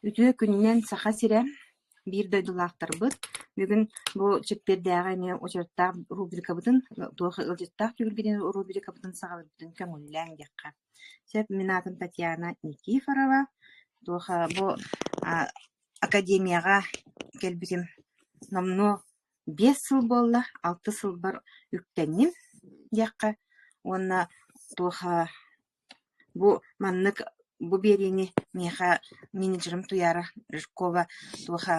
Үтүө күнүнэн, Саха сирэ! Биир дойдулаахтарбыт, бүгүн бу чэппиэрдээҕи эмиэ очерктаах рубрикабытын, туох ыалдьыттаах түһүлгэтин рубрикабытын саҕалыырбытын көҥүллээҥ диэххэ. Сөп, мин аатым Татьяна Никифорова. Туоха бу а, академияҕа кэлбитим номнуо Биэс сыл буолла, алта сылбар үктэнним диэххэ уонна туоха бу маннык бу биэриини миэхэ менеджерым Туйаара Жиркова туоха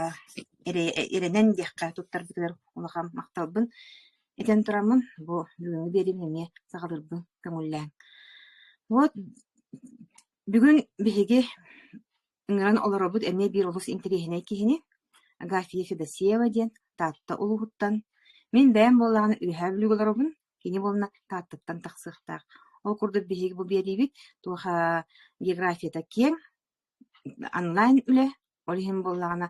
эрэ эрэнэн диэххэ туттарбытыгар улахан махталбын этэн тураммын бу бүгүҥҥү биэриим эмиэ саҕалыырбын көҥүллээҥ. Вот бүгүн биһиги Ыҥыран олоробут эмиэ биир олус интэриэһинэй киһини, Агафья Федосеева диэн Таатта улууһуттан. Мин бэйэм буоллаҕына Үөһээ Бүлүүгэ олоробун, кини буолла Тааттаттан тахсыахтаах. Ол курдук биһиги бу биэриибит туоха географията киэҥ, онлайн үлэ, ол иһин буоллаҕына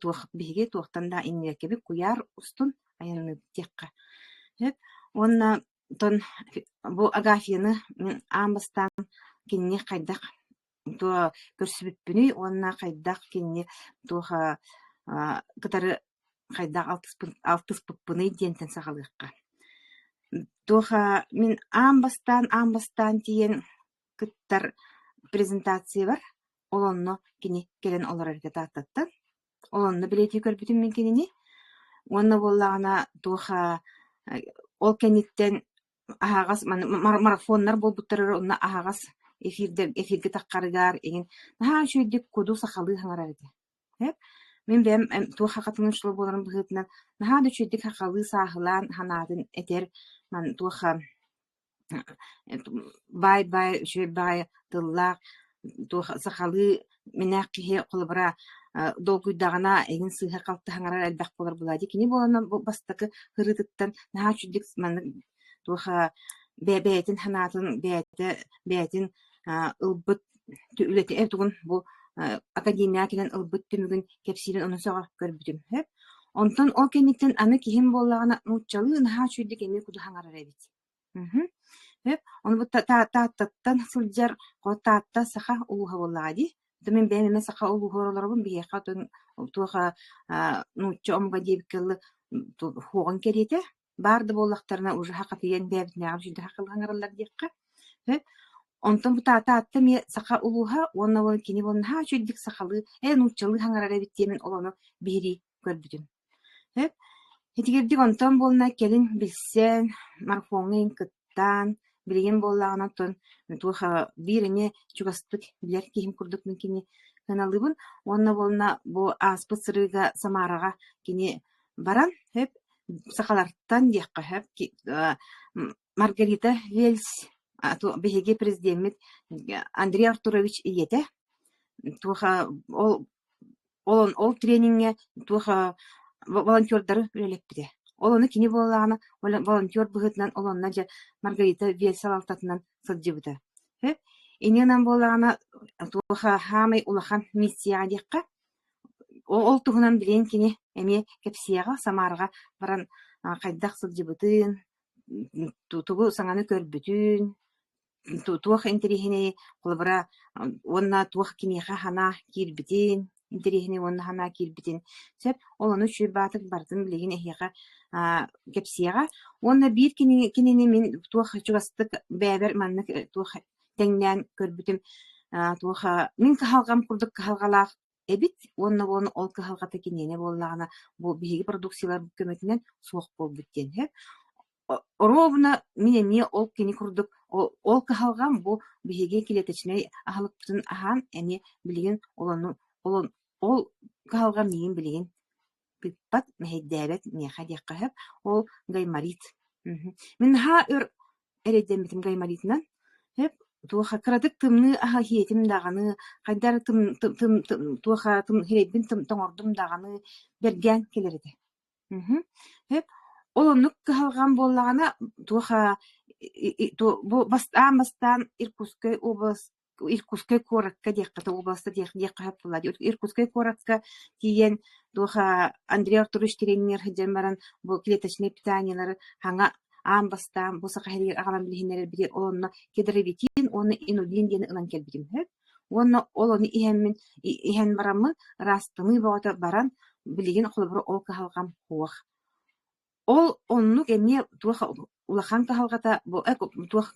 туох биһиги туохтан да иннибэккэбит куйаар устун айанныырдиэххэ сөп. Уонна оттон бу Агафьяны аан бастаан кинини хайдах Дуо көрсүбүппүнүй уонна хайдах кинини туоха аа кытары хайдах алтыспын алтыспыппыный диэнтэн сахалыахха. Туоха мин аан бастаан аан бастаан тиийэн кыттар презентациябар ол онно кини кэлэн олорорго Тааттаттан. Ол онно билети көрбүтүм мин кинини. Уонна буоллаҕына туоха ол кэнниттэн аһаҕас маны марафоннар буолбуттар эрэ онно аһаҕас эфирдэр эфиргэ таххарыгар иҥин наһаа үчүгэйдик куду сахалыы саҥарар этэ ээ мин бэйэм туох хахатынан ушла буоларым быһыытынан наһаа да үчүгэйдик сахалыы сааһылаан санаатын этэр маны туоха баай баай үчүгэй баҕайы тыллаах туох сахалыы Минээх киһи холобура долгуйдаҕына эҥин сыыһа-халты хаҥарар элбэх буолар буолаа дии. Кини буоланна бу бастакы ырыытыттан наһаа үчүгдүк маннык туоха бэйэтин санаатын бэйэтэ бэйэтин ылбыт үлэтэ эр тугун бу академияҕа кэлэн ылбыт түмүгүн кэпсиирин онон сөҕө көрбүтүм онтон ол кэнниттэн аны киһим буоллаҕына нууччалыы наһаа үчүгэйдик эмиэ куду хаҥарар эбит Эт ону бу Тааттаттан сылдьар Таатта саха улууһа буоллаҕа дии. То мин бэйэм эмэ саха улууһугар олоробун. Биһиэхэ отун туох нуучча омуга диэбиккэ дылы суоҕун кэриэтэ. Баар да буоллахтарына ужаһа тиийэн бэйэбитинээҕи дьүдэһэ кылыһаҥараллар диэххэ. Онтон бу Таатта эмиэ саха улууһа уонна кини буолан наһаа үчүгэйдик сахалыы, нууччалыы хаҥарар эбит диэмин олону биһирии көрбүтүм итигирдик онтон буолла кэлин билсэн марфоҥҥа иһин кыттаан билигин буоллаҕына оттон туоха биир эмиэ чугастык билэр киһим курдук мин кини кыаналыыбын уонна буолла бу ааспыт сырыыга самараҕа кини баран хөп сахалартан диэххэ хөп маргарита вельс биһиги президеммит андрей артурович ийэтэ туоха ол ол трениҥҥэ туох волонтердары үлэлэппитэ. Ол ону кини буоллаҕына волонтер быһыытынан олонно дьэ Маргарита Вел салалтатынан сылдьыбыта. Ини гынан буоллаҕына туох саамай улахан миссияҕа диэххэ ол туһунан билигин кини эмиэ кэпсиэҕэ, Самараҕа баран хайдах сылдьыбытын, тугу саҥаны көрбүтүн, туох интэриэһинэй холобура уонна туох киниэхэ санаа киирбитин интэриэһинэй уонна санаа киирбитин сөп ол ону Чуйбаатык барытын билигин эһиэхэ аа кэпсиэҕэ уонна биир кинини кинини мин туох чугастык бэйэбэр маннык туох тэҥнээн көрбүтүм аа туох мин кыһалҕам курдук кыһалҕалаах эбит уонна буолан ол кыһалҕата киниэнэ буоллаҕына бу биһиги продукциялар көмөтүнэн суох буолбут диэн иһэр ровно мин эмиэ ол кини курдук ол кыһалҕам бу биһиги клеточнай аһылыкпытын аһаан эмиэ билигин ол ол кыһалҕам миигин билигин Пыппат, мэһэйдээбэт миэхэ диэххэ сөп. Ол гайморит. Мгм. Мин наһаа өр эрэйдэммитим гайморитынан. Сөп? Туоха кыратык тымныы аһа иһиэтим даҕаны, хайдах эрэ тым тым тым тым туоха тым сирэйбин тым тоҥордум даҕаны, бэргээн кэлэр этэ. Мгм. Сөп? Ол оннук кыһалҕам буоллаҕына, туоха и и ту бу бастаан-бастаан Иркутскай област Иркутскай куоракка диэххэ областа диэх диэххэ сөп буолла Иркутскай куоракка тиийэн туоха Андрей Артурович тренер сылдьан баран бу клеточнай питаниялары саҥа аан бастаан бу саха сиригэ аҕалан билиһиннэрэрбитигэр ол онно кедровитин уонна инулин диэн ылан кэлбитим сөп уонна ол ону иһэммин иһэн бараммын ыраастаныы бөҕөтө баран билигин холобура ол кыһалҕам суох Ол оннук эмиэ туох улахан кыһалҕата бу эк туох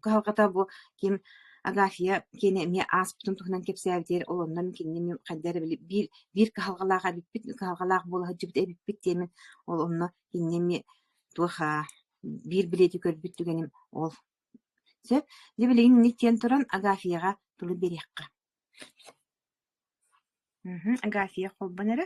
кыһалҕата бу ким Агафья киэнэ эмиэ ааспытын туһунан кэпсээбитигэр ол оннун кинини мин хайдах эрэ били биир биир кыһалҕалаах эбиппит кыһалҕалаах буола сылдьыбыт эбиппит диэмин ол онно кинини эмиэ туох аа биир билиэти көрбүт түгэним ол сөп дьэ билигин инник диэн туран Агафьяҕа тылы биэриэххэ мхм Агафья холбон эрэ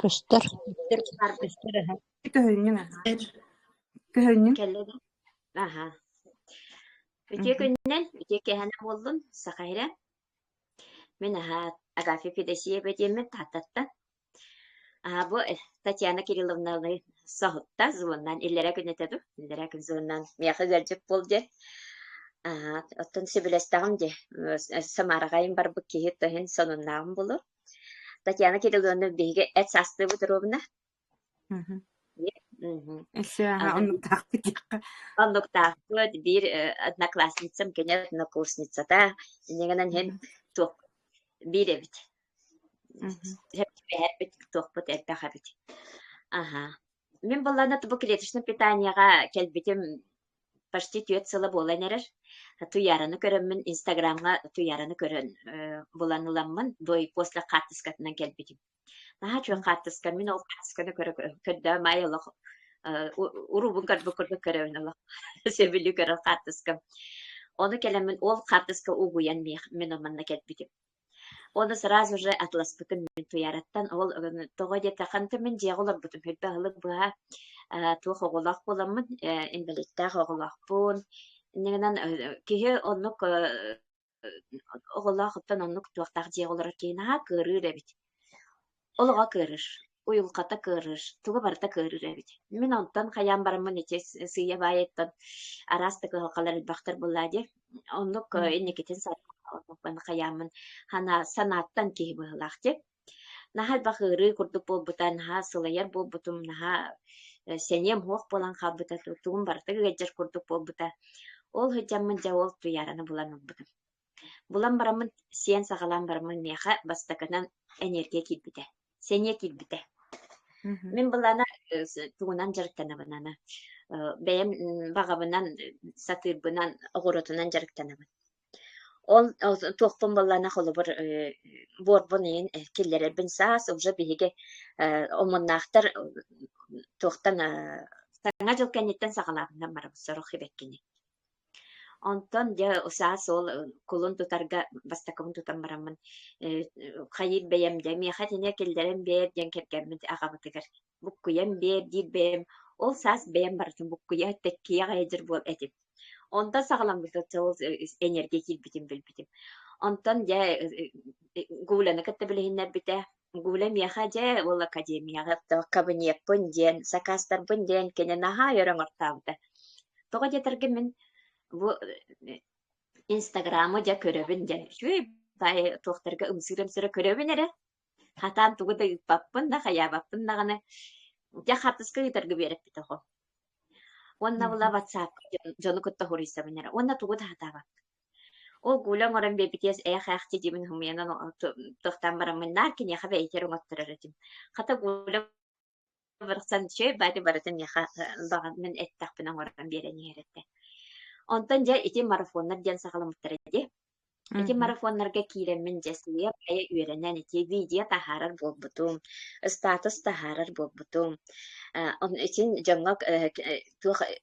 Көстөр кэллэ да аһа үтүө күнүнэн ити кэһэнэ буоллун саха иһирэ мин аһаа Агафья Федосеева диэммин тааттаттан аһаа бу Татьяна Кирилловнаны соһутта звоннан иллэрэ күн этэ ду иллэрэ күн звоннан миэхэ ыалдьыт буол диэн аһаа оттон сөбүлэстэҕиҥ дии Самараҕа барбыт киһи то иһин сонуннааҕым буолуо Татьяна Кирилловна биһиги эт саастыыбыт доруобуна Сыаха оннуктаахпыт оннуктаахпыт биир одноклассницам кини однокурсницата инигинэн һин туох биир эбит сэппэһэрбит туохпут элбэх эбит аха мин буллана бу клеточный питанияга кэлбитим почти түөрт сыла буолан эрэр туйаараны көрөммүн инстаграмҥа туйаараны көрөн булан ыламмын бой после хаартыскатынан кэлбитим наһаа чуон хаартыскам мин ол хаартысканы көрө көрдөм ай олох уруубун көрбүк курдук көрөбүн олох сөбүлүү көрөр хаартыскам ону кэлэммин ол хаартыска угуйан мин манна кэлбитим Уонна сразу же Атласпытын мин Туйаараттан ол тоҕо диэтэххинэ мин дьиэҕэ олорбутум элбэх аһылык быһа э, туох оҕолоох буоламмын э, инвалидтээх оҕолоохпун иннигинэн э, киһи оннук э, оҕолоох оттон оннук туохтаах дьиэҕэ олорор киһи наһаа кыырыыр эбит олоҕо кыарар, уйулҕата кыарар, туга барыта кыарар эбит. Мин онтон хайаан бараммын ити сыыйа-баайыттан араас да кыһалҕалар элбэхтэр буоллаа диye оннук э, инникитин сарбаппын хайааммын хана санааттан киһи быһылаах те наһаа элбэх ыарыы курдук буолбута наһаа сылайар буолбутум наһаа э, сэниэм суох буолан хаалбыта тугум барыта ыгаддьар курдук буолбута ол сылдьаммын дьэ ол туйаараны булан ылбытым Булан бараммын, сиэн саҕалаан бараммын миэхэ бастакынан эниэргийэ киирбитэ. Сэниэ киирбитэ. Мгм. Мин былаана э, с- тугунан дьарыктанабын аны? Э, Бэйэм м, баҕабынан, сатыырбынан, оҕуруотунан дьарыктанабын. Ол ол- туохпун баллаана холобур э, буорбун иһин э, киллэрэрбин саас уже биһиги э, омуннаахтар э, туохтан э, саҥа дьыл кэнниттэн саҕалаабынан барабыт сорох сибэккини. Онтон дьэ саас ол кулун тутарга бастакыбын тутан бараммын э, хайыыр бэйэм дьэ миэхэ итине киллэрэн биэр диэн кэргэммит аҕабытыгар буккуйан биэр диир бэйэм ол саас бэйэм барытын буккуйа тэккиэх айдьыр буол этим онтон саҕаламмыта ол энергия киирбитин билбитим онтон дьэ э, э, Гуляны кытта билиһиннэрбитэ Гуля миэхэ дьэ ол академияҕа то кабинетпын диэн сакаастарбын диэн кини наһаа өр оҥортообута тоҕо диэтэргэ мин бу инстаграму дьэ көрөбүн диэн үчүгэй баай туохтарга ымсыыр-ымсыыра көрөбүн эрэ хатаан тугу да ыыппаппын да хайаабаппын даҕаны дьэ хартыска ыытарга биэрэппит оҕо уонна була ватсапка дьону кытта хоруйсабын эрэ уонна тугу да сатаабаппын Ол гуля оҥорон биэрбитиэс ээх-ээхти диибин хумуйанан тохтоон бараммын наар киниэхэ бэйэтигэр оҥотторор этим. Хата гуля барахсан чөй баары барытын миэхэ даҕан мин эттэхпинэ оҥорон биэрэн иһэр этэ. Онтон дьэ ити марафоннар диэн саҕаламмыттара дии. Ити марафоннарга киирэммин дьэсилиэ айа үөрэнэн ити видео таһаарар буолбутум, статус таһаарар буолбутум. Э, итин дьоҥҥо э, туох э,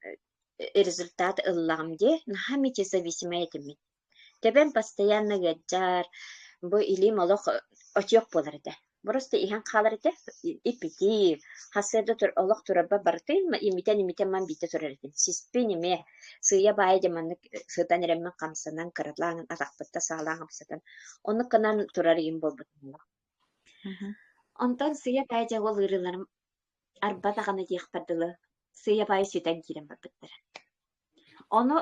результат ыллаҕым дии наһаа мечизависимый этимин тэбэн постоянно ыалдьар бу илиим олох очуох буолар этэ просто иһэн хаалар этэ иппитиир хасыада тур олох турарба барытын имитэн имитэн ман биитэ турар этим сиспин име сыыйа баайа дьэ маннык сытан эрэммин хамсанан кыралаан атахпытта саалаан хамсатан оннук гынан турар иһин буолбут онтон сыйа баай дьэ ол ыарыыларым арба даҕаны диэхпэр дылы сыыйа баайы сүтэн киирэн барбыттара ону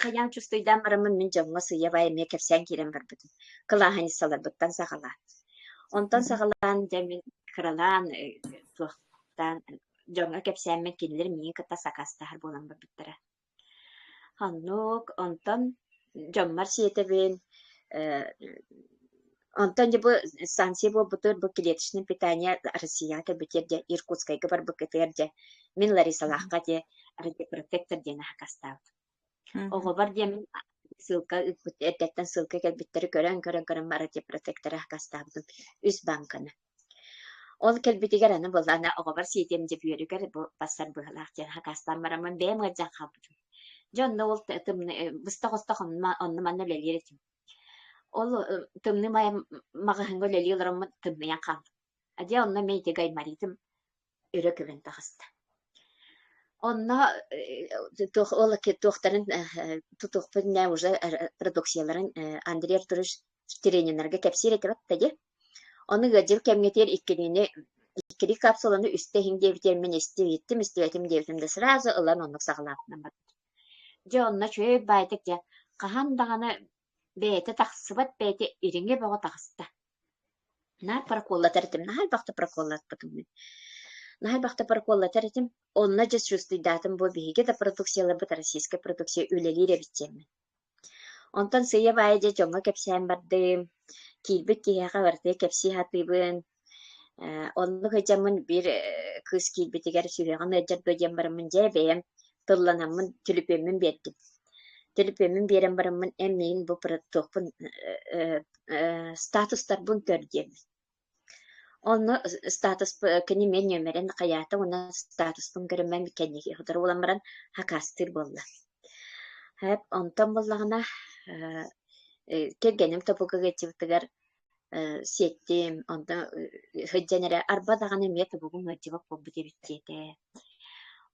хайаан чувствуйдаан бараммын мин дьоҥҥо сыыйа баай эмиэ кэпсээн киирэн барбытым кылааһынньыссаларбыттан саҕалаан онтон саҕалаан дьэ мин кыралаан туохтаан дьоҥҥо кэпсээммин кинилэр миигин кытта сакаастаһар буолан барбыттара Оннук, онтон дьоммор сиэтэбин, э, онтон дьэ бу станция буолбутугар бу клеточное питание Россияҕа кэлбитигэр дьэ Иркутскайга барбыккытыгар дьэ мин Ларисалаахха дьэ протектор диэн аһакастаабыт. Оҕобор диэн мин ссылка ыыппыт эрдэттэн ссылка кэлбиттэри көрөн көрөн көрөн бара дьэ протектора аһакастаабытым үс бааҥканы. Ол кэлбитигэр аны былаан оҕобор сиэтиэм дьэ бүөрүгэр бу барсар быһыылаах диэн хакаастаан бараммын бэйэм ыалдьан хаалбытым. Дьэ онно ол т- тымны э, быстах-остох онно онно манна үлэлиир этим. Ол э, тымныы майа маҕаһыыҥҥа үлэлии олороммун тымныйан хаалбытым. А дьэ онно мин ити гаймаритым өрө көбүн таҕыста. Онно туохтарын тутуохпун нෑ уже продукцияларын Андрей Артурович тренерге кэпсиир этибит тади. Оны ыадьыл кэмгетиер иккиниини иккири капсуланы үстэһиҥ диэбитиэр мин истибиттим истибэтим диэбитим да сразу ылан оннук саҕалаатынан барбыт. Дьэ онно чөй байтык дьэ хаһан даҕаны Бэйэтэ тахсыбат, бэйэтэ ириҥэ бөҕө таҕыста. Наар проколлатар этим. Наһаа элбэх да проколлатпытым мин. Наһаа элбэх да проколлатар этим. Онно дьэ чувствуйдаатым буо биһиги да продукцияларбыт Российская продукция үлэлиир эбит диэммин. Онтон сыыйа-баайа дьэ дьоҥҥо кэпсээн бардым. Киирбит киһиэхэ барытыгар кэпсии сатыыбын. Э, оннук сылдьаммын биир э, кыыс киирбитигэр сүһүөҕүн ыалдьар дуо диэн бараммын дьэ бэйэм тылланаммын түлүпүөммүн биэрдим. Түлүпүөммүн биэрэн бараммын эн миигин бу туохпун э, статустарбын көр диэн. Онно статус кини мен нөмерин хайаата уонна статуспун көрүммэм кэнники хотор буолан баран хакастыыр буолла. Хэп онтон буллаҕына кэргэним топука geçибитигэр сиэттим, онно сылдьан эрэ арба даҕаны эмиэ тобугум ыалдьыбат буолбут эбит диэтэ.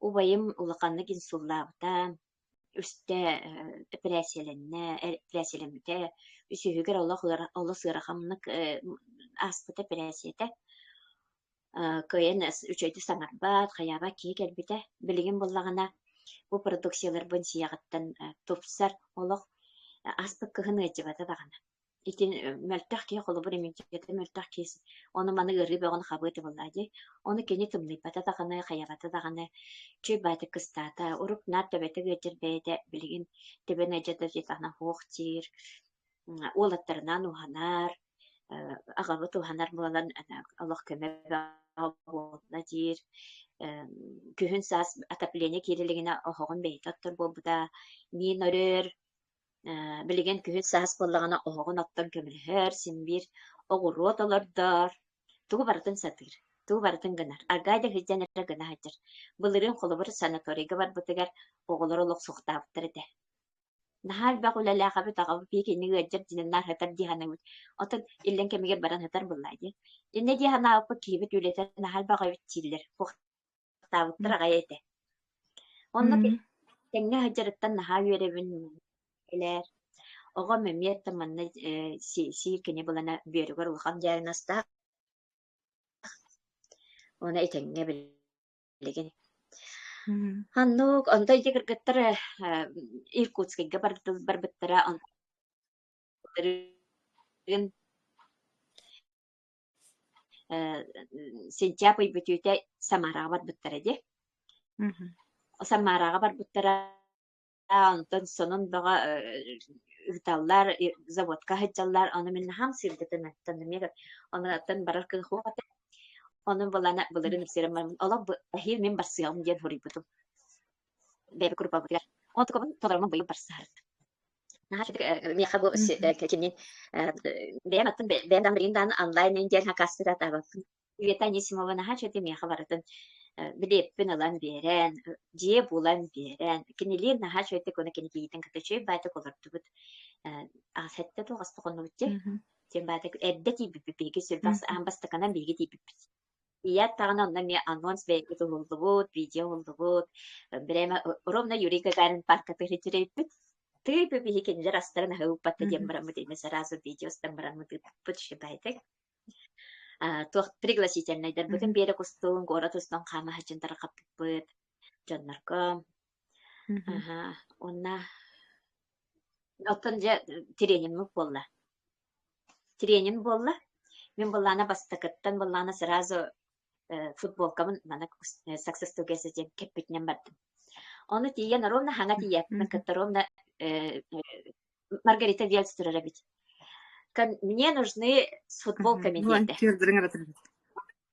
Убайым улаханнык инсуллаабыта, үстэ эпэрээссийэлэннэ, эпэрээссийэлэммитэ, үсүһүгэр олох олус ыараханнык ааспыт эпэрээссийэтэ. Кыайан үчүгэйдик саҥарбат, хайаабат киһи кэлбитэ. Билигин буоллаҕына бу продукцияларбын сиэҕиттэн тупсар, олох ааспыт кыһын ыалдьыбата даҕаны. Итин мөлтөх киһи холобур имиджэтэ мөлтөх киһи ону маны ыарыы бөҕөнү хабыы тыбыллаа дии. Ону кини тымныйбата даҕаны, хайаҕата даҕаны чүй баатык кыстаата, урук наар төбөтө ыалдьар бэйэтэ билигин төбөнө дьата диэтэҕинэ һуох диир, уол аттарынаан уһанар, аҕабыт уһанар буолан олох көмө буолла диир. Күһүн саас отопление киирэ илигинэ оһоҕун бэйэтэ оттор буолбута, миин өрөр, билигин күһүн саас буоллаҕына оһоҕун оттон көмөлөһөр, син-биир оҕуруот олордор, тугу барытын сатыыр, тугу барытын гынар. Аргаай да сылдьан эрэ гына сылдьар. Былырыын холобур санаторийга барбытыгар оҕолор олохсуохтаабыттар этэ. Наһаа элбэх үлэлээх эбит, аҕабыт биһигинник ыалдьар дьинэ наар сытар дии санаабыт. Оттон иллэҥ кэмигэр баран сытар буоллаа дии. Иннэ дии санаабыппыт киһибит үлэтэ наһаа элбэх эбит дииллэр. астаабыттар аҕай этэ. Онно тэҥҥэ сылдьарыттан наһаа үөрэбин элээр. Оҕом эмиэ да манна сии кини булана бүөрүгэр улахан дьаарын астаах. Оны итэҥҥэ билигин. Аннук, онто ити кыргыттар Иркутскайга барбыттара, Синчаап ый бүтүүтэ Самараҕа барбыттара дии. Самараҕа барбыттара онтон сонун бөҕө ыыталлар, заводка сылдьаллар. Ону мин наһаа сырдатан онуттан барар кыһуох этэ. Ону былана былырын ипсирэн бармын олох эһиил мин барсыам диэн хоруйбутум. Бэйбэ группабытыгар. Ол толорумун быйыл барсаһар. наһаа итинник миэхэ бу кинини бэйэм аттым бэйэм да билигин даҕаны онлайнын диэн хакастыратабаппын Света Анисимова наһаа чэ миэхэ барытын билиэппин ылан биэрэн дьиэ булан биэрэн кинилиин наһаа чөйтик уна кини кийитин ката чөй байтак олордубут сэттэ туох аста хоннубут те тем байтак эрдэ тииппиппит биһиги сүр бас аан бастаканан биһиги тииппиппит Ийэт даҕаны онно эмиэ анонс бэйэбит уһуллубут, видео уһуллубут. Брэме ровно Юрий Гагарин паарката илдьирэйбит. Тыып биһи кинилэр астарын аһы уппатта диэн бараммыт иннэ сразу видео устан бараммыт ыыппыт шибайтик. туох пригласительнайдарбытын биэрэ кустуун город устун хаамаһачын тарахаппыппыт дьоннорго аха онна оттон дьэ тренингмыт буолла тренер буолла. Мин былаана бастакыттан былаана сразу э, футболкабын мана Success Together диэн кэппитинэн бардым. Ону тиийэн ровно хаҥа тиийээппин кытта ровно э, Маргарита Вельц турар эбит. Мне нужны с футболками диэтэ.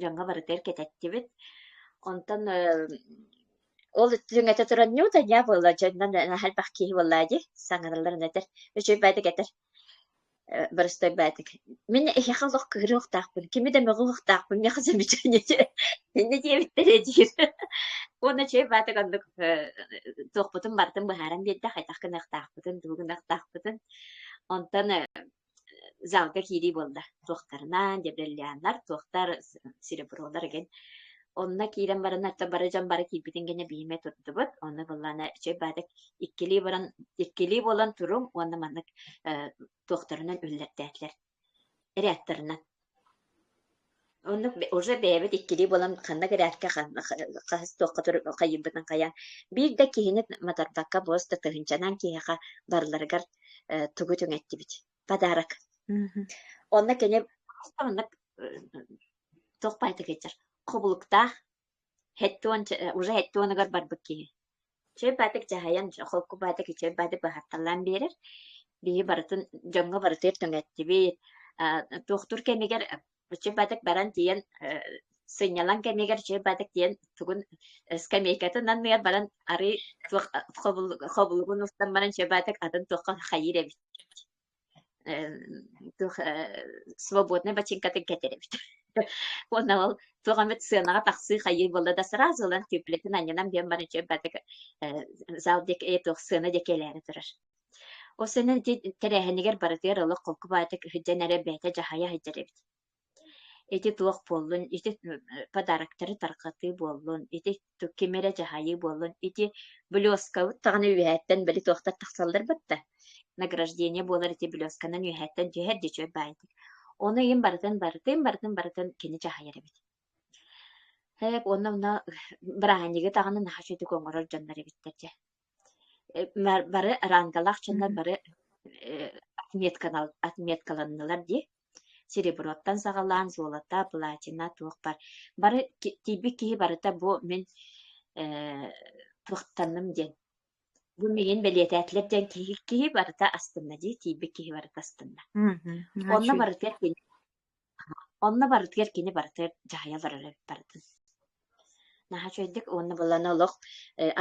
дьоҥҥо барытыгар кэтэттибит. Онтон ол дьиҥэтэ туран ньуутаньа буолла дьоннон наһаа элбэх киһи буолла дии саҥараллар өнөтөр үчүгэй баатык этэр боростой баатык мин эһиэхэ олох кыырыахтаахпын кими да мөҕүөхтаахпын миэхэ замечание иннэ диэбиттэрэ диир уонна чэй баатык оннук туохпутун барытын быһааран биэрдэ хайдах гыныахтаахпытын тугу гыныахтаахпытын онтон залга киирии буолла. Туохтарынан, дебрелляннар, туохтар серебролар эген. Онно киирэн баран, ата бары дьон бары киирбитин кэннэ биһиме турдубут. Онно быллана чөй баатык иккилии баран, иккилии буолан туруҥ уонна маннык туохтарынан үллэртээтилэр. Эриаттарынан. Оннук уже бэйэбит иккилии буолан ханна кырээккэ ханна хаһыс туохха хайыйбытын хайаан биир да киһини матарбакка буос да тыһыынчанан киһиэхэ барыларыгар э, тугу түҥэттибит подарок онно кини хас да маннык э, туох баайта киирдэр хобулуктаах Хэттон уже хэттонугар барбыт киһи чөл баатык дьаһайан холку баатык чөл баатык быһаарталаан биэрэр биһи барытын дьоҥҥо барытыгар төҥөттүбүт туохтуур кэмигэр чөл баатык баран тиийэн сынньалаҥ кэмигэр чөл баатык тиийэн тугун скамейкатын анныгар баран арыый туох хобулугун устан баран чөл баатык атын туохха хайыыр эбит туох свободнай бачыыҥкатын кэтэрэбит уонна ол туох эмит сыанаҕа тахсыы хайыы буолла да сразу ылан түплэтин анньынан биэн баран чөйбатык зал диэк ээ туох сыана диэки элээри турар ол сэнэн тэрээһинигэр барытыгар олох холку баайытык иһирдьэн эрэ бэйэтэ дьаһайа сылдьар эбит ити туох буоллун ити подароктары тарҕатыы буоллун ити ким эрэ дьаһайыы буоллун ити блёскабыт даҕаны үөһээттэн били туохтар тахсаллар батта награждение буолар ити блёсканан үөһээттэн түһэр дьичүөр баайдык ону иһин барытын барытын барытын барытын кини дьаһайар эбит эп уонна мына бырааһынньыгы даҕаны наһаа үчүгүтүк оҥорор дьоннор эбиттэр дьэ бары рангалаах дьоннор бары отметкаланнылар дии Сереброттан саҕалаан золото, платина туохпар бары тиийбит киһи барыта бу мин э, туохтанным диэн бу миигин бэлиэтээтилэр диэн киһи, киһи барыта астынна дии тиийбит киһи барыта астынна. Онно барытыгар кини онно барытыгар кини барыта дьаһайа олорор барытын. Наһаа үчүгэйдик уонна быланы олох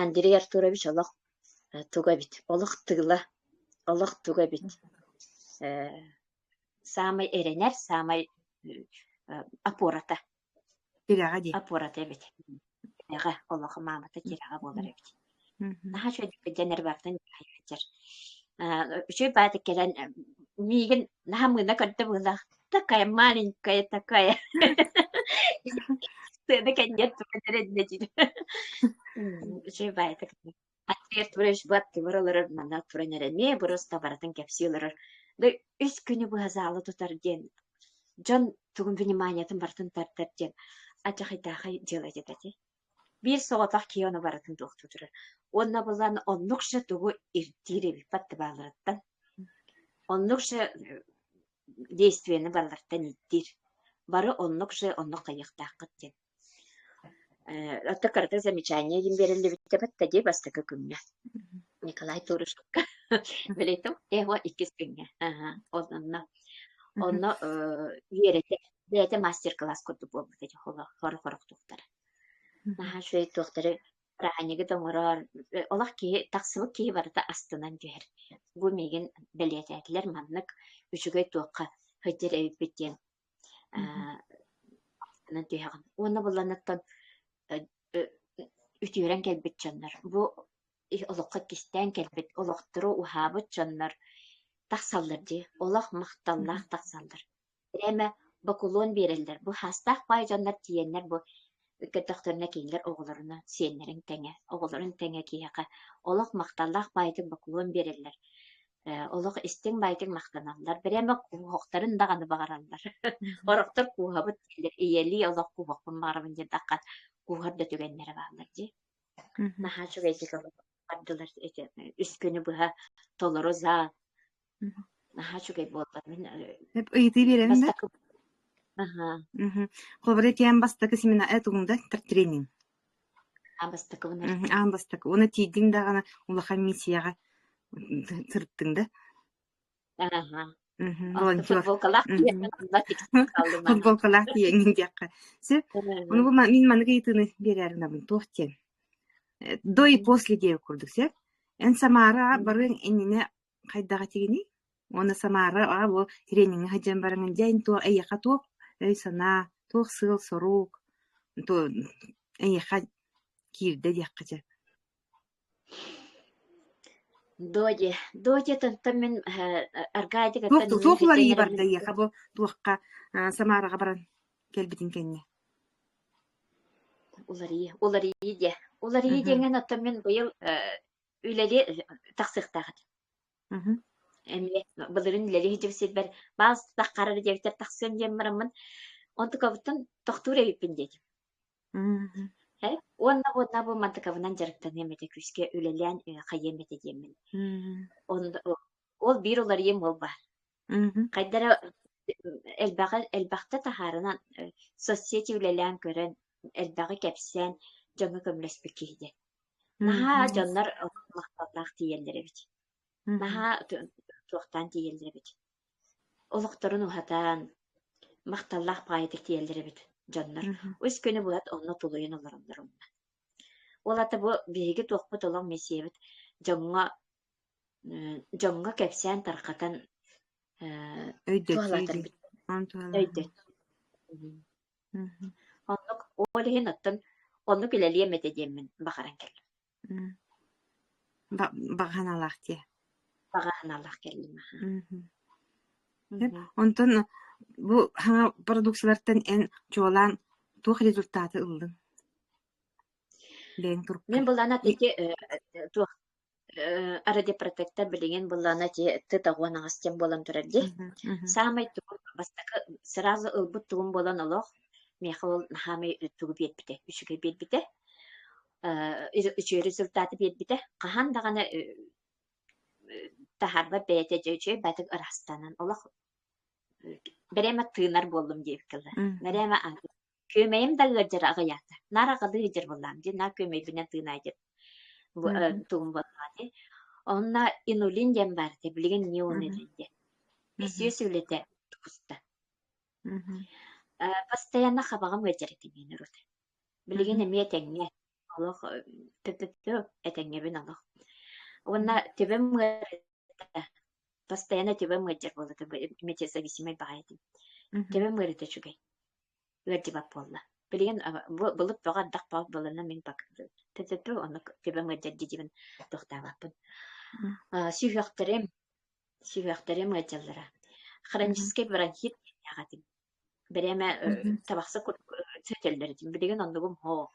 Андрей Артурович олох туга эбит, олох тыла, олох туга эбит. саамай эрэнэр, саамай опората. Тирэҕэ дии. Опората эбит. Тирэҕэ, олохо маамата тирэҕэ буолар эбит. Наһаа үчүгэйдик диэн эрбэхтэн дьайдьар. Үчүгэй баатык кэлэн миигин наһаа мыына көрдө быылаах такая маленькая такая сцена кэннien tutte ответ врач быатты барылары мана туран эрэ эмиэ просто барытын кэпсии олорор да үс күнү быһа заала тутар диэн дьон тугун вниманиятын барытын тардар диэн ачахитаахай делать этэ ити биир соҕотох киһи ону барытын туохтуу турар уонна булан оннукша тугу ирдиир эбиппат табааларыттан оннукша действияны баллартан ирдиир бары оннукша оннук хайыахтааххыт диэн Э, оттон кыратык замечание диэн биэриллибитэ баттэ дии бастакы күҥҥэ. Николай Турушкаҕа билетим его иккис күҥҥэ. Аха, онно онно э, үөрэтэ бэйэтэ мастер-класс курдук буолбут этэ хорох-хорохтуктар. Наһаа үчүгэй туохтары ааһынньыгы да оҥороор э, олох киһи тахсыбыт киһи барыта астынан түһэр. Бу миигин бэлиэтээтилэр маннык үчүгэй туохха сылдьар эбиппит диэн Онон түһэҕин. Уонна булланыттан үтүөрэн кэлбит дьоннор бу олоххо кистээн кэлбит олохтору уһаабыт дьоннор тахсаллар дии. Олох махталлаах тахсаллар. Эмэ бакулуон биэрэллэр. Бу саастаах баай дьоннор тиийэннэр бу көтөхтөрүнэ кинилэр оҕолоруна сиэннэрин тэҥэ, оҕолорун тэҥэ киһиэхэ олох махталлаах баайытык бакулуон биэрэллэр. олох истиҥ-байтиҥ махтаналлар. Бэрэмэ куоһахтарын даҕаны баҕараллар. Орохтор куоһабыт ийэлии олох куоһахпын баҕарабын диэтэххэ, кууһар да түгэннэрэ бааллар дии. Наһаа үчүгэйдик бардылар эти үс күнү быһа толору зал. Наһаа үчүгэй буолла. Мин ыйытыы биэрэрим да. Аха. Холобура, тиэн бастакы семина это тренинг. Аан бастакыбын Мh, аан бастакы. Уонна тиийдиҥ даҕаны улахан миссияҕа сырыттыҥ да? Аһа. Мгм. Онто Волонтер. футболкалаах тиийэҥҥин онно тиксэн хааллым аһа. Футболкалаах тиийэҥҥин диэххэ. Сөп. Ону Мгм. бу ма- мин маныгы ыйытыыны биэрээринабын туох диэн. Э, До и после диэбит курдук, сөп? Эн Самара Мгм. барыаҥ иннинэ Хайдах этигиний? Уонна Самара, аа бу трениҥҥэ сылдьан бараҥын, дьэ эн туох эйиэхэ туох өй-санаа, туох сыал-сорук, ту эйиэхэ киирдэ диэххэ сөп. Додя, додятыттан мин э, Туох аргаадьыгыттан туох уларыйыы уларыйбат да баран эйиэхэ бу туохха а, Самараҕа баран кэлбитин кэннэ? уларыйыы, уларыйыы диэ. Уларыйыы диэҥҥэ оттон мин быйыл э, үлэли тахсыахтаах этэ. Мгм. Эмиэ былырын үлэли иһдьив сирбэр баал таххарар диэбиттэр тахсыам диэн бараммын онтукабыттан тохтуур эбиппин диэтим. Мгм. Һэ? Уонна уонна бу мантыкабынан дьарыктаныам этэ күүскэ үлэлээн э, хайыам этэ диэммин. Мгм. Онно ол ол биир уларыйыам ол баар. Мгм. Хайда эрэ элбэҕи элбэхтэ таһаарынан э, соцсети үлэлээн көрөн элбэҕи кэпсээн дьону көмөлөспүт киһи диэн. Наһаа Мгм. дьоннор махталлаах тиийэллэр эбит. Мгм. Наһаа ту- туохтаан тиийэллэр эбит. Олохторун уһатан, махталлаах паайытык тиийэллэр эбит дьоннор. Мгм. Үс күнү булат онно тулуйан олороннор умна. Ол ата бу биһиги туохпут олоҥ миссиябыт дьоҥҥо дьоҥҥо кэпсээн тарҕатан туһалатар оннук ол иһин оттон оннук үлэлиэм этэ диэммин баҕаран кэллим баҕаналаах диэ баҕаналаах кэллим онтон бу саҥа продукциялартан эн чуолаан туох результаты ыллыҥ бэйэҥ турукка мен былаана таки туох радиопротектор билигин быллаана ити тыт оҕуон аҕас диэн буолан турар дии саамай тугун бастакы сразу ылбыт тугум буолан олох миэхэ ол наһаамай тугу биэрбитэ үчүгэй биэрбитэ үчүгэй результаты биэрбитэ хаһан даҕаны таһарбат бэйэтэ дьэ үчүгэй батык ырастанан олох бэрээмэ тыынар буоллум диэбиккэ бэрээмэ Күөмэйим да ыалдьара аҕыйаата. Наар аҕалыы илдьэр буоллаам дии, наар күөмэйбинэн тыынаай диэн Мм. тугум буоллаҕа Онно инулин диэн баар этэ, билигин неонин Мгм. диэн. Бис Мгм. үөс үлэтэ тупуста. Мгм. Э, постоянно хабаҕым ыалдьар этим мин урут. Билигин Мгм. эмиэ этэҥҥэ. Олох тө-тө-тө этэҥҥэбин олох. Уонна төбөм ыарыыта, постоянно төбөм ыалдьар буолата, б эмиэ зависимай баҕайы этим. Мгм. Төбөм ыарыыта үчүгэй. ыалдьыбат буолла. Билигин былыт бөҕө ардах баҕа былана мин төттөртү онно көбөҥ ыалдьар дьидибин тохтообоппун. Сүһүөхтэрим, сүһүөхтэрим ыалдьаллара. Хронический бронхит эҕэтим. Бэриэмэ табахса сөтөллөр этим. Билигин оннугум һоо.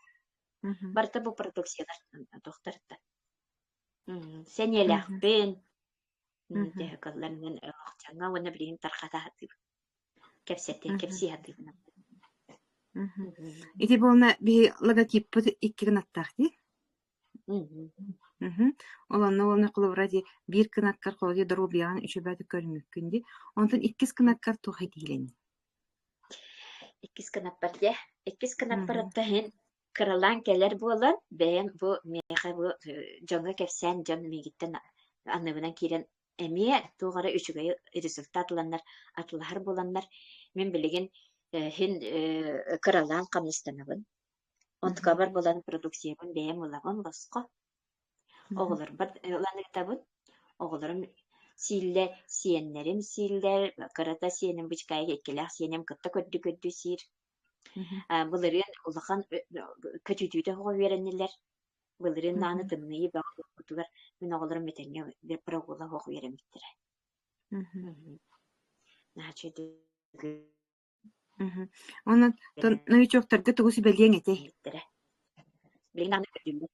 Барыта бу продукциялар тохтарта. Сэниэлээхпин, төһө кылларынан олохчаҥа уонна билигин тархата кэпсэттин кэпсии сатыытынан Ити буолна биһи логотиппыт икки гынаттаах дии. Мгм. Олонно уонна холобура дии биир кынаккар холодьу доруобуйаҕын үчүгэйдик көрүммүккүн дии. Онтон иккис кынаккар туох этиилэний? иккис кынаппар дьэ иккис кынаппар Мгм. отто иһин кыралаан кэлэр буолан бэйэм бу миэхэ бу э, дьоҥҥо кэпсээн дьон миигиттэн анныбынан киирэн эмиэ туох эрэ үчүгэй результат ыланнар атылаһар буоланнар мин билигин э, син э, кыралаан хамнастанабын онтукабар булан продукциябын бэйэм ылабын босхо оҕолорбор ыланыытабын оҕолорум сииллэ сиэннэрим сииллэр кырата сиэним бычкаайга иккилээх сиэним кытта көрдүү көрдүү сиир былырыын улахан көтүүтүтэ оҕо үөрэннилэр Былырыын даҕаны тымныы бөҕө буолбутугар мин оҕолорум этэҥҥэ прогулла суох үөрэммиттэрэ. Онон новичоктарга тугу сүбэлиэҥ этэй? Билигин даҕаны көрдүммүт.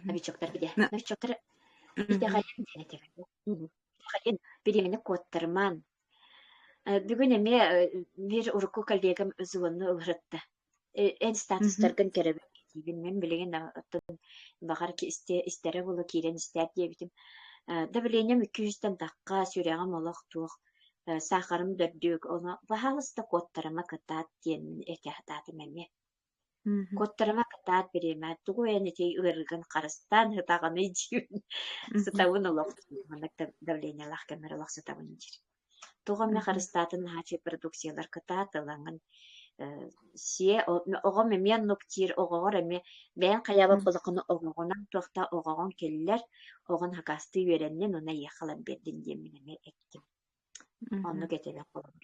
Новичоктар били. Новичоктар итэҕэйэн диэн этэҕэ. Итэҕэйэн бириэмэни куоттармаан бүгүн эмиэ биир урукку коллегам звонну ылырытта. эн статустаргын кэрэбин кэтиибин мин билигин оттон баҕар истэрэ буолуо киирэн истээт диэбитим давлением икки сүүстэн тахха сүрэҕим олох туох саахарым дөрдүк ону пожалуйста куоттарыма кытаат диэммин этэ сатаатым эмиэ куоттарыма кытаат бириэмэ тугу эн ити ыарыгын харыстаан сытаҕыный диибин сытабын олох маннык давлениелаах кэммэр олох сытабын диир Тугу эмэ харыстаатын наһааччы продукциялар кытаатылаҥын сиэ оҕом эмиэ нуктиир оҕоҕор эмиэ бэйэҥ хайаабын холокону оҕоҕунан туохта оҕоҕун киллэр оҕон хакастыы үөрэннин уна эйиэхэ ылан биэрдин диэммин эмиэ эттим оннук этэрэ холобур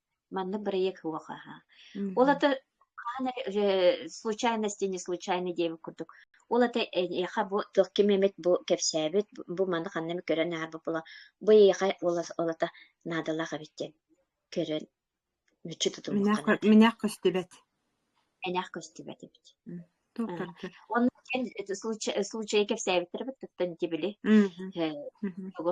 Манна бырайыак суох аха. Ол ата хаһан эрэ э, случайности не случайный диэбит курдук. Ол ата эйиэхэ бу туох ким эмит бу кэпсээбит бу маны ханна эмит көрөн ааһарбыт була бу эйиэхэ ол ата наадалаах эбит диэн көрөн мүччү тутуллуохха Минээх көстүбэт. Минээх көстүбэт эбит. Онно случай кэпсээбиттэр бит туттан ити били. Тоҕо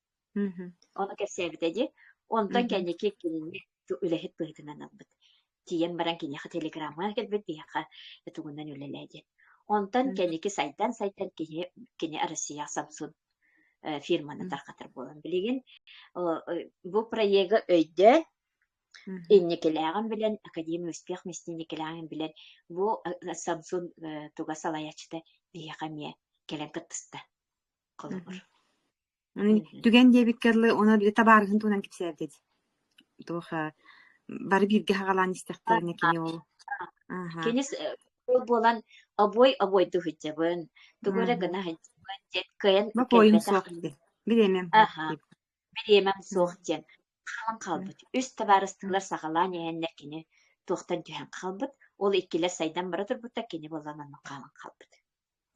Мгм. Ону кэпсээбитэ дии. Онтон Мгм. кэнники кинини үлэһит быһыытынан ылбыт. Тиийэн баран киниэхэ телеграмма кэлбит, биһиэхэ тугунан үлэлээ диэн. Онтон Мгм. кэнники сайдан-сайдан кини кини Россия Samsung э, фирманы Мгм. тарҕатар буолан билигин о, э, бу проегы өйдөөн Мгм. инникилээҕин билэн, академия успех мясниникилээҕин билэн, бу э, Samsung э, туга салайааччыта биһиэхэ эмиэ кэлэн кыттыста. холобур. Түгэн диэбиккэ дылы, ону табаарыһын туһунан кэпсээтит. Туох бары бииргэ хаҕалаан истэхтэринэ кини ол Кини буолан обой обойду сылдьабын, тугу эрэ гына сылдьабын диэн кыайан Бопойум суох диэн. Билиэмэм суох. Билиэмэм суох диэн хаалан хаалбыт. Үс табаарыстыылар саҕалаан иһэннэр кини туохтан түһэн хаалбыт. Ол иккилэр сайдан бара турбуттар кини буолан онно хаалан хаалбыт.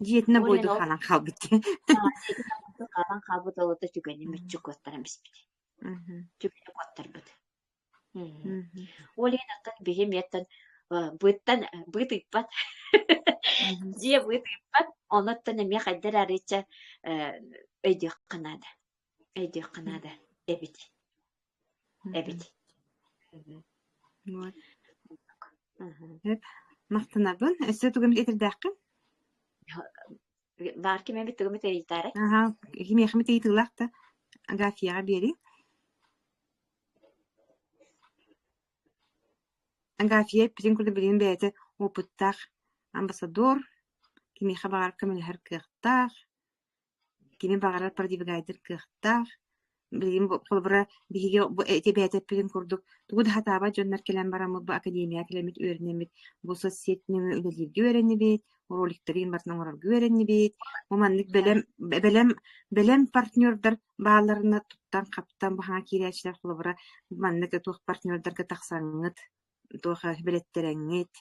Дьиэтинэ Ол ойон бойду ол хаалан хаалбыт аа дьиэтин амматын хаалан хаалбыт олото түгэни мүччү куоттаран испит. Мгм. Түгэни куоттарбыт. Мм. Мгм. Ол иһин оттон биһи эмиэттэн э, быыттан э, быыт ыыппат. Мгм. Дьиэ быыт ыыппат, ону оттон эмиэ хайдах эрэ арыычча э, өйдүөххэ наада. өйдүөххэ наада эбит эбит вот махтанабын өссө тугум итирдээххин баар кимэбит тугумут эритаарай аха кимиэхимит ыйытыылаах да аграфияҕа биэри аграфия эппитин курдук билигин бэйэтэ опыттаах амбассадор кимиэхэ баҕар көмөлөһөр кыахтаах Кини баҕарар продвигайдер кыахтаах. Билигин бу холобура биһиги бу эти эбээтэппитин курдук тугу да сатаабат дьоннор кэлэн бараммыт, бу академияҕа кэлэммит үөрэнэммит, бу соцсетинэн үлэлииргэ үөрэннибит, роликтары иһин барытын оҥорорго үөрэннибит. Бу маннык бэлэм, бэлэм, бэлэм партнердар баалларына туттан-хаптан бу хаҥа киирээччилэр холобура маннык туох партнердарга тахсаҥҥыт, туох бэлэттэрэҥҥит,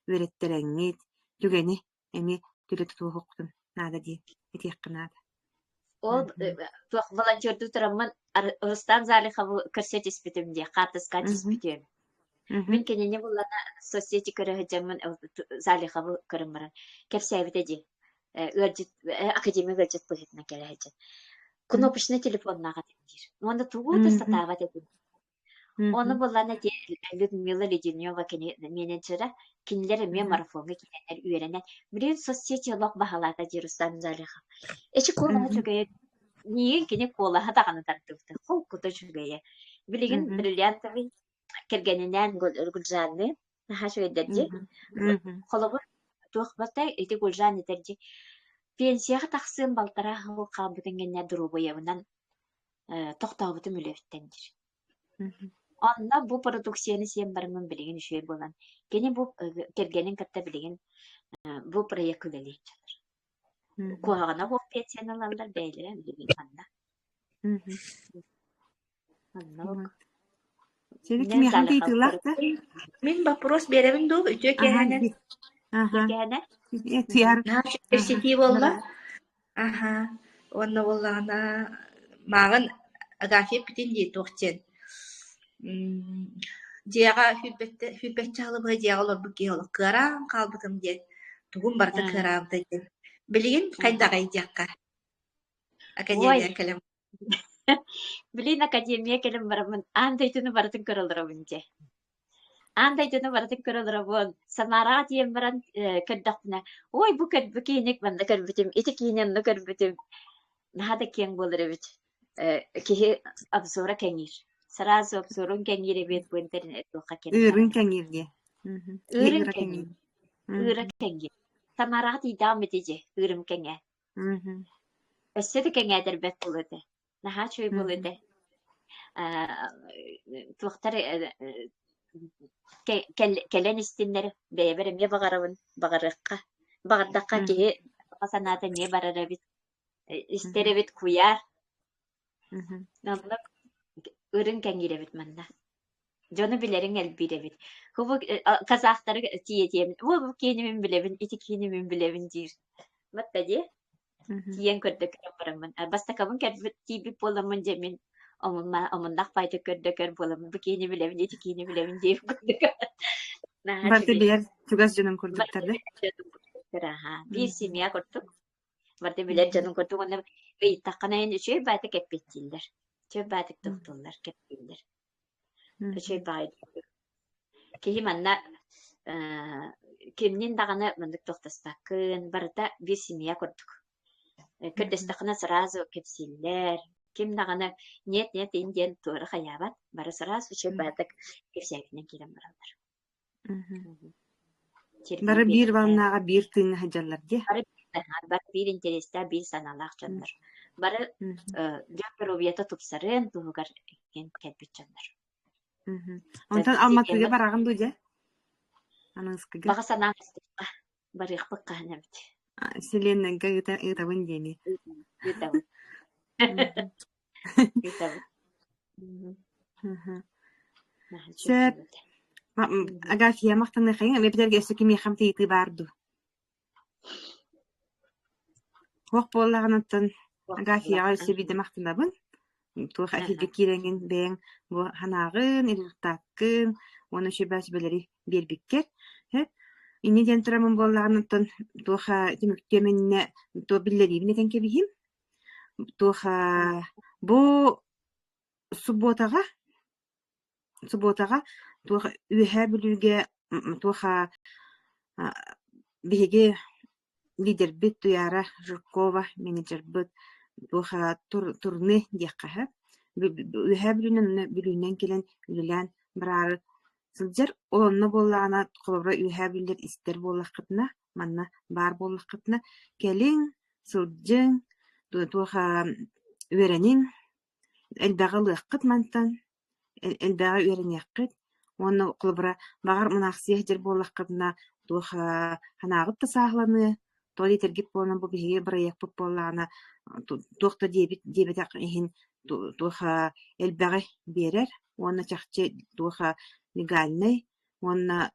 үөрэттэрэҥҥит, түгэни эмиэ түлэтэ туоһухпутун наада дии этиэххэ наада ол туох волонтердуутараммын Рустам Залихову көрсө түспүтүм дии хаартыска түспүтүм мин кинини буллана соцсети көрө сылдьаммын Залихову көрөн баран кэпсээбитэ дии ыалдьыт академия ыалдьыт быһыытынан кэлэ сылдьан кнопочный телефоннаах этим диир уонна тугу да сатаабат этим Оны мгм. буллана диэн Людмила Леденева кини менеджера кинилэр эмиэ марафоҥҥа киирэннэр үөрэнэн билигин соцсети олох баһылаата диир Руслан Залихов. Эчи куолаһа Мгм. үчүгэйэ миигин кини куолаһа даҕаны тардыбыта холкута үчүгэйэ. Билигин Мгм. бриллиантовый кэргэнинээн Гулжанны наһаа үчүгэйдэр дии. Мгм. Мгм. Холобур туох батай ити Гулжан этэр дии пенсияҕа тахсыан балтараа хонук хаалбытын кэннэ доруобуйабынан э, тохтообутум үлэһиттэн диир. Онно бу продукцияны сиэн барыммын билигин үчүгэй буолан, кини бу э, кэргэнин кытта билигин э, бу проект үлэлиир. Куһаҕана хоп пенсияны ылаллар бэйэлэрэ билигин ханна. Онно Сергей Михан тыылаахта. Мин вопрос беребин дуу үтүө кэһэнэ. Аха. Кэһэнэ. Тияр. Университет болла. Аһаа, уонна буоллаҕына мааҕын Агафья эппитин дии туох диэн мм дьиэҕэ сүүрбэттэ сүүрбэччэ аһылыгы дьиэҕэ олорбут киһи олох кыараан хаалбытым диэн тугум барыта кыараабыта диэн билигин хайдаҕый диэххэ академия кэлэн Блин, академия кэлин бараммын аан дойдуну барытын көрө олоробун дьэ. Аан дойдуну барытын көрө олоробун. Самараҕа тиийэн баран э, көрдөхпүнэ, ой бу көр бу кииник манна көрбүтүм, ити киини онно көрбүтүм. Наһаа да киэҥ буолар эбит. Э, киһи обзора кэҥиир. Сразу обзорун кэҥиир эбиэт бу интернет туохха киирдэ. Ыырын кэҥиир диye. Ыырын кэҥиир. Ыыра кэҥиир. Самараҕа тиийдэҕим эти дьэ, ыырым кэҥэ. Мгм. Өссө да кэҥээтэрбэт буолуо этэ. Наһаа үчүгэй буолуо этэ. Мгм. Аа, туохтар э, э, кэ- кэл- кэлэн истиннэр бэйэбэр эмиэ баҕарабын баҕарыахха баҕардахха киһи Мгм. саха санаата эмиэ барар эбит Э, истэр Мгм. эбит куйаар Мгм. оннук ырын кэҥиир эбит манна Дьону билэриҥ элбиир эбит. Кубу казахтары тиэтиэм. Бу бу киинимин билэбин, ити киинимин билэбин диир. Матта дии. Тиийэн көрдөкөрөн бараммын. Бастакабын кэлбит тиийбит буоламмын дьэ мин омуннах пайты көрдөкөр буоламмын бу киини билэбин, ити киини билэбин диир курдук. Барты билэр чугас дьонун курдуктар да? Аха, биир семья курдук. Барты билэр дьонун курдук онно ыйыттаххына эн үчүгэй баата кэппиттииллэр. Үчүгэй баатык туттуллар, кэппииллэр. чэй баайд киһи манна э, кимнин даҕаны маннык тохтоспоккун барыта биир семья курдук э, көрдөстөххүнэ сразу кэпсииллэр ким даҕаны нет нет ин диэн туора хайаабат бары сразу чэй баатык кэпсээтинэн киирэн бараллар Бары биир ваннааҕа биир тыыҥҥа сылдьаллар диэ. Бары бары биир интэриэстээх, биир санаалаах дьоннор. Бары дьон доруобуйата тупсарыан туһугар кэлбит дьоннор. Онтон Алматыга бараҕын дуу дьэ? Ананыскыга. Баҕа санаам барыахпыт хаһан эбит. Вселеннайга ыытабын диэни. Ыытабын. Итэбит. Мгм. Мгм. Сөп. Наһачыттыбыт. А, м, Агафья, махтаныаххайыҥ, эпитэргэ өссө кимиэхэм тыйытыы баар дуу? Туох буоллаҕыныттан Туох Агафьяҕа буоллаҕын? өссө биирдэ махтанабын. Туох эфиргэ киирэҥҥин бэйэҥ бу санааҕын, результаккын уонна сөбөөс бөлөри биэрбиккэр. Һэт. Инньэ диэн турамын буоллаҕыныттан туох а, түмүктүөм иннинэ туох биллэриибин этэн кэбиһиим. Туоха бу субуотаҕа субуотаҕа туоха Үөһээ Бүлүүгэ туоха биһиги лидербит Туйаара Жиркова менеджербыт туоха турне диэххэ сөп Үөһээ Бүлүүнэн кэлэн үлэлээн бараары сылдьар ол онно буоллаҕына холобура Үөһээ Бүлүүлэр истэр буоллаххытына Манна баар буоллаххытына, кэлиҥ, сылдьыҥ, туоха үөрэниҥ, элбэҕи ылыаххыт мантан, элбэҕи үөрэниэххит уонна холобура, баҕар, мунаахсыйа сылдьар буоллаххытына, туоха санааҕыт да сааһыланыа, тоҕо диэтэргит буоллун, бу биһиги бырайыакпыт буоллаҕына, туох да диэбит диэбэтэх иһин туоха элбэҕи биэрэр уонна чахчы туоха легальнай, уонна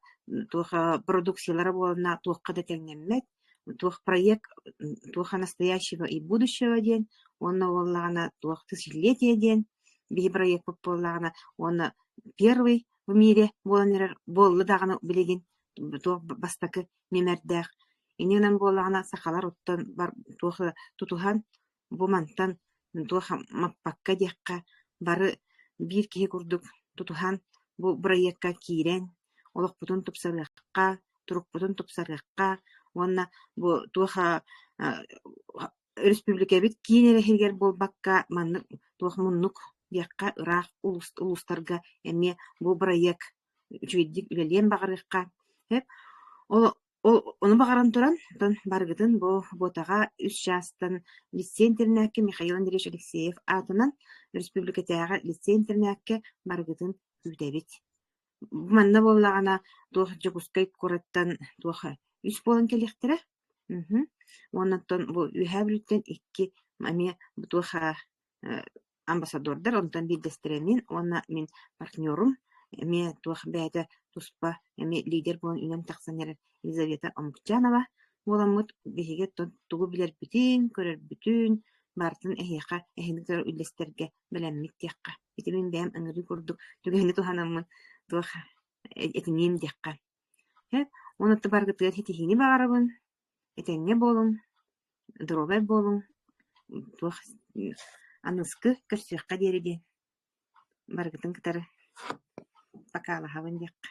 туоха продукциялара буоланна туохха да тэҥнэммэт, туох проект, туоха настоящего и будущего диэн уонна буоллаҕына туох тысячелетие диэн биһи проекпыт буоллаҕына уонна первый в мире буолан эрэр буолла даҕаны билигин туох бастакы нөмэрдээх иннинэн буоллаҕына сахалар оттон бар туох тутуһан Бу мантан туох маппакка диэххэ, бары биир киһи курдук тутуһан бу бырайыакка киирэн, олохпутун тупсарыахха, турукпутун тупсарыахха уонна бу туох өрөспүүбүлүкэбит киин эрэ иһигэр буолбакка, маннык туох муннук диэххэ ыраах улуустарга эмиэ бу бырайыак үчүгэйдик үлэлиэн баҕарыахха. Ол Ол ону баҕаран туран, оттон барыгытын бу буотаҕа үс чаастан лиссиэн-тэринээккэ Михаил Андреевич Алексеев аатынан өрөспүүбүлүкэтээҕи лиссиэн-тэринээккэ барыгытын күүтэбит. Бу манна буоллаҕына туох Дьокуускай куораттан туох үс буолан кэлиэхтэрэ. Мгм. Уонна оттон бу Үөһээ Бүлүүттэн икки эмиэ бу туох а, амбассадордар, онтон биирдэстэрэлиин уонна мин партнерум, эмиэ туох бэйэтэ туспа эмиэ лидер буолан үүнэн тахсан эрэр Елизавета Омукчанова буоламмыт биһиги тугу билэрбитин, көрөрбүтүн, баартан эһиэхэ эһиги көрөр үллэстэргэ бэлэммит диэххэ. Ити мин бэйэм ыҥырыы курдук түгэһини туһанаммын туох этиниим диэххэ. Уонна барыгытыгар ситиһиини баҕарабын. Итинник буолуҥ, доруобай буолуҥ, туох аныскы көрсүөххэ диэри дии, барыгытын кытары покалаһабын диэххэ